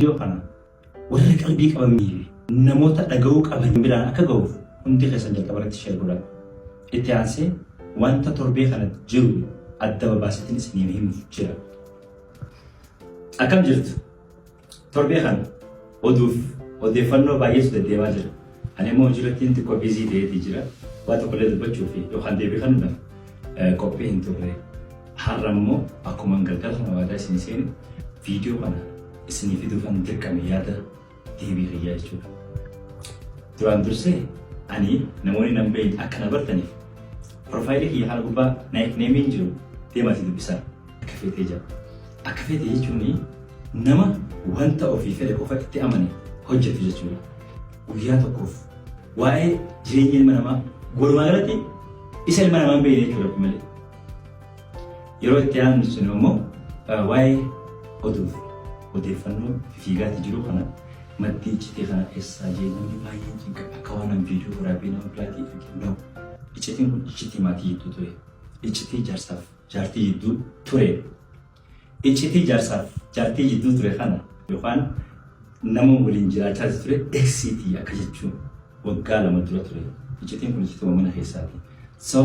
Viidiyoo kana warra qalbii qabanii fi namoota dhaga'uu qaban biraan akka ga'uuf hundi keessan jalqaba irratti sheer godhaa. Itti aansee wanta torbee kanatti jiru adda babaaseetiin isiniif himuuf jira. Akkam jirtu? Torbee kana oduuf odeeffannoo baay'eetu deddeemaa jira. Ani immoo hojiirrattiin xiqqoo biizii ta'eeti jira. Waa tokkollee dubbachuu fi yookaan deebii kennuudhaaf qophii hin turre. Har'a immoo akkuma galgala kana waadaa isin seenu viidiyoo kana isinii fiduufan dirqame yaada deebii kiyyaa jechuudha. Duraan dursee ani namoonni nan beekne akka na bartaniif piroofaayilii kiyya kana gubbaa naayik neemiin jiru deemaatii dubbisaa. Akka feetee jira. Akka feete jechuun nama wanta ofii fedhe qofa itti amane hojjetu jechuudha. Guyyaa tokkoof waa'ee jireenya ilma namaa walumaa galatti isa ilma namaa hin beekne jechuudha kun malee. Yeroo itti aanu sun immoo eh, waa'ee oduuf odeeffannoo fiigaatti jiru kana maddii iccitii kana keessaa jeeqamni baay'een cinqa akka waan an viidiyoo waraabee nama biraatii arginu. Iccitiin kun iccitii maatii jidduu ture. Iccitii jaarsaaf jaartii jidduu ture iccitii jaarsaaf jaartii jidduu ture kana yookaan nama waliin jiraachaa ture eksiitii akka jechuun waggaa lama dura ture iccitiin kun iccituma mana keessaati so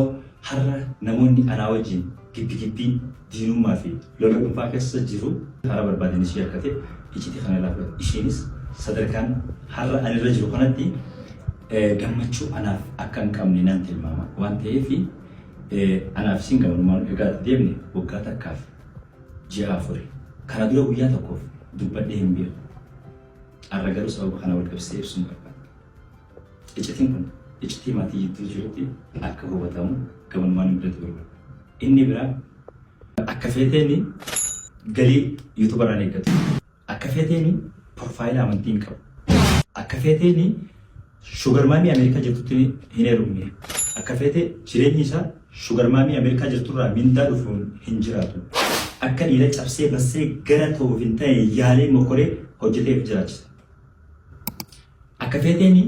har'a namoonni anaa wajjin gibbi gibbii diinummaa fi lola dhuunfaa keessa jiru karaa barbaadan ishee akka ta'e iccitii kana irraa fudhate isheenis sadarkaan har'a ani irra jiru kanatti gammachuu anaaf akka hin qabne nan tilmaama waan ta'eef Anaaf isiin gamanumaan egaa deemne waggaa takkaaf ji'a afuri. Kana dura guyyaa tokkoof dubbadhee hin beeku. Har'a garuu sababa kana wal qabsiisee ibsuun barbaada. Iccitiin kun iccitii maatii jidduu jirutti akka hubatamu gamanumaan ibsatu barbaada. Inni biraa akka feeteen galii yuutubarraan eeggatu. Akka feeteeni porfaayila amantii hin qabu. Akka feeteeni shugar maamii Ameerikaa jirtutti hin heerumne. Akka feete jireenyi isaa shugar maamii Ameerikaa jirturraa mindaa dhufuun hin jiraatu. Akka dhiira cabsee bassee gara ta'uuf hin ta'e yaalee mokoree hojjetee of jiraachisa. Akka feeteeni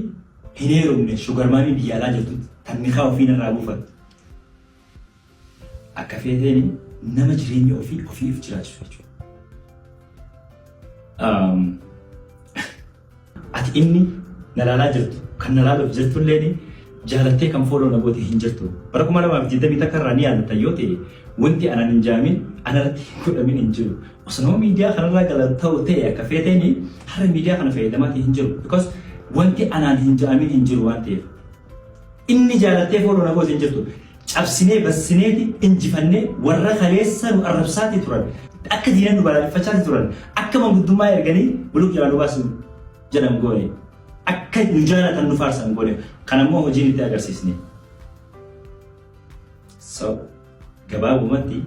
hin heerumne shugar maamii biyya alaa jirtutti tan nikaa ofii narraa buufatte. Akka feeteen nama jireenya ofii ofii of jiraachisu jechuudha. Ati inni na laalaa jirtu kan na laaluuf jirtu illee jaalattee kan fooloo na goote hin jirtu. Bara kuma lamaa fi digdamii takka irraa ni yaadatta yoo ta'e wanti anaan hin jaamin anarratti hin godhamin hin jiru. Osoo nama miidiyaa kanarraa gala ta'u ta'e akka feeteen har'a miidiyaa kana fayyadamaa hin jiru. Because wanti anaan hin jaamin hin jiru waan ta'eef. Inni jaalattee foon ona koos hin jirtu. Cabsinee bassineeti injifannee warra kaleessa nu arrabsaati turan. Akka diina nu balaaleffachaati turan. Akka manguddummaa erganii buluk jalaa nu baasu jedhan goone. Akka nu jaalatan nu faarsan goone. Kanammoo hojiin itti agarsiisne. So. Gabaabumatti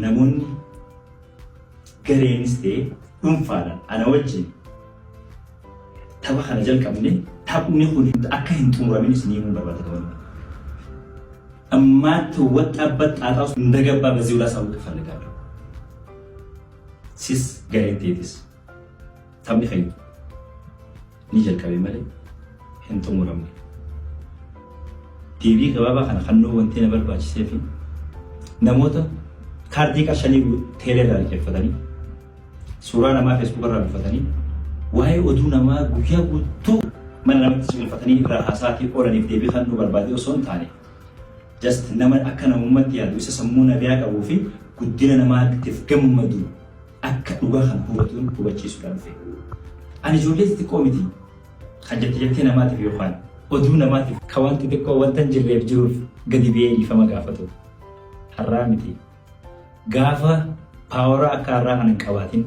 namoonni gareenis ta'e dhuunfaadhaan ana wajjin tapha kana jalqabne taphni kun akka hin xumuramin isin himuun barbaada ta'uu ammaatti waxxaabbat xaaxaa osoo hin dagabbaa bazii ulaa saawwii kafalagaadha. Sis gareen teetis. Taphni keenya ni jalqabe malee hin xumuramne. Deebii gabaabaa kana kannuu wanti na barbaachisee fi namoota kaardii qarshanii teelee irraa liqeeffatanii suuraa namaa feesbuuka irraa buufatanii waa'ee oduu namaa guyyaa guutuu mana namatti suulifatanii irraa haasaatii oolaniif deebii kannuu barbaadee osoo hin taane just nama akka namummaatti yaadu isa sammuu nabiyaa qabuu fi guddina namaatiif gammadu akka dhugaa kana hubatuun hubachiisuudhaa dhufe. Ani ijoollee xixiqqoo miti kan jette jettee namaatiif yookaan oduu namaatiif ka waan xixiqqoo wanta hin jirreef jiruuf gadi ba'ee dhiifama gaafatu. Har'aa miti. Gaafa paaworaa akka har'aa kana hin qabaatin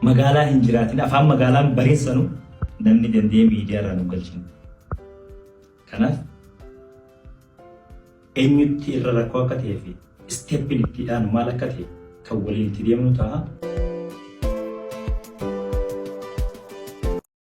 magaalaa hin jiraatin afaan magaalaan bareessanu namni danda'ee miidiyaa irraa nu galchinu. Kanaaf Eenyutti irra rakkoo akka ta'ee fi isteeppiin itti dhaanu maal akka ta'e kan waliin itti deemnu ta'a.